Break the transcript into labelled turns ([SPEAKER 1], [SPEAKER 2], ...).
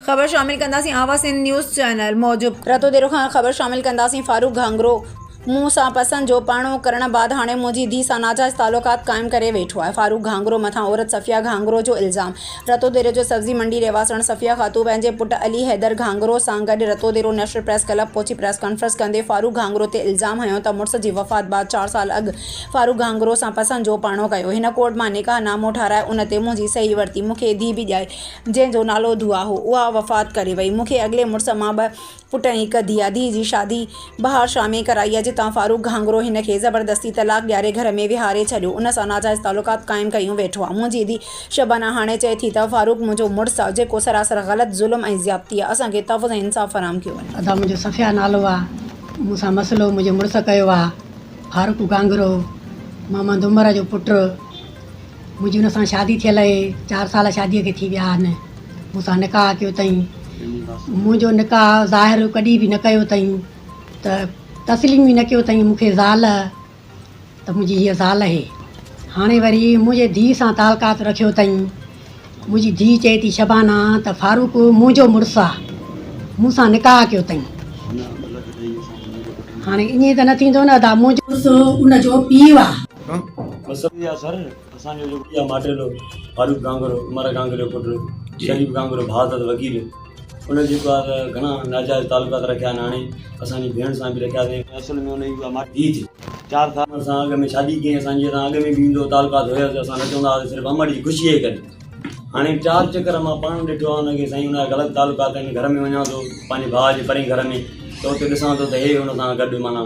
[SPEAKER 1] خبر شامل ڪنداسين آوا سنڌ نيوز چينل موجب. رتو ديرو کان خبر شامل ڪنداسين فاروق گهانگرو مون سان پسند جو پرڻو ڪرڻ بعد هاڻي منهنجي ڌي سان ناجائز تعلقات قائم ڪري ويٺو آهي فاروق گهانگرو مٿان عورت صفيه گهانگرو جو الزام رتو ديري جو سبزي منڊي رهواسڻ صفيه خاتون پنهنجي پٽ علي حيدر گهانگرو سان گڏ Ratodero national press club پهچي پريس ڪانفرنس ڪندي فاروق گهانگرو تي الزام هنيو ته مڙس جي وفات بعد چار سال اڳ فاروق گهانگرو سان پسند جو پرڻو ڪيو هن ڪورٽ مان نڪاح نامو ٺاهرائي ان تي منهنجي صحيح ورتي مونکي ڌي به ڄائي جنهن جو نالو دعا هو، اها وفات ڪري وئي. مون کي اڳلي مڙس مان ٻه پٽ ۽ هڪ ڌيء آهي. ڌيء جي شادي بهار شاهه ۾ ڪرائي آهي، جتان فاروق گهانگرو هن کي زبردستي طلاق ڏياري گهر ۾ ويهاري ڇڏيو. ان سان ناجائز تعلقات قائم ڪيون ويٺو آهي. منهنجي ڌيء شبانه هاڻي چئي ٿي ته فاروق منهنجو مڙس آهي، جيڪو سراسر غلط، ظلم ۽ زيادتي آهي. اسان کي تحفظ ۽ انصاف فراهم ڪيو وڃي. ادا منهنجو صفيه نالو
[SPEAKER 2] آهي. مون سان مسئلو منهنجي مڙس ڪيو آهي. فاروق گهانگرو محمد عمر جو پٽ. منهنجي هن سان شادي ٿيل اهي چار سال شادي کي ٿي ويا آهن مون سان نڪاح ڪيو اٿئي منهنجو نڪاح ظاهر ڪڏهن به نه ڪيو اٿئي ته تسليم به نه ڪيو اٿئي مون کي زال ته منهنجي هيء زال اهي هاڻي وري منهنجي ڌيء سان تعلقات رکيو اٿئي منهنجي ڌيء چئي ٿي شبانا ته فاروق منهنجو مڙس آ مون سان نڪاح ڪيو اٿئي هاڻي ائين ته نه ٿيندو نه ادا منهنجو مڙس ان جو پيء آ مذهبي
[SPEAKER 3] اثر، اسان جو جيڪو اها ماڊيلو فاروق گانگرو، عمر گانگري جو پٽ شريف گانگرو ڀاء اٿس وڪيل، ان جيڪو آهي ته گهڻا ناجائز تعلقات رکيا آهن، هاڻي اسان جي ڀيڻ سان به رکيا اٿئي، اصل ۾ ان جي اها ماڊيلو ڌيء جي چار سالن سان اڳ ۾ شادي ڪيائين، اسان جي سان اڳ ۾ به ايندو هو، تعلقات هيس، اسان نه چوندا هئاسين صرف عمر جي خوشيء جي ڪري، هاڻي چار چڪر مان پاڻ ڏٺو آهي ان کي سائين ان جا غلط تعلقات آهن، گهر ۾ وڃان ٿو پنهنجي ڀاء جي پرين گهر ۾ ته اتي ڏسان ٿو ته هي ان سان گڏ معنيٰ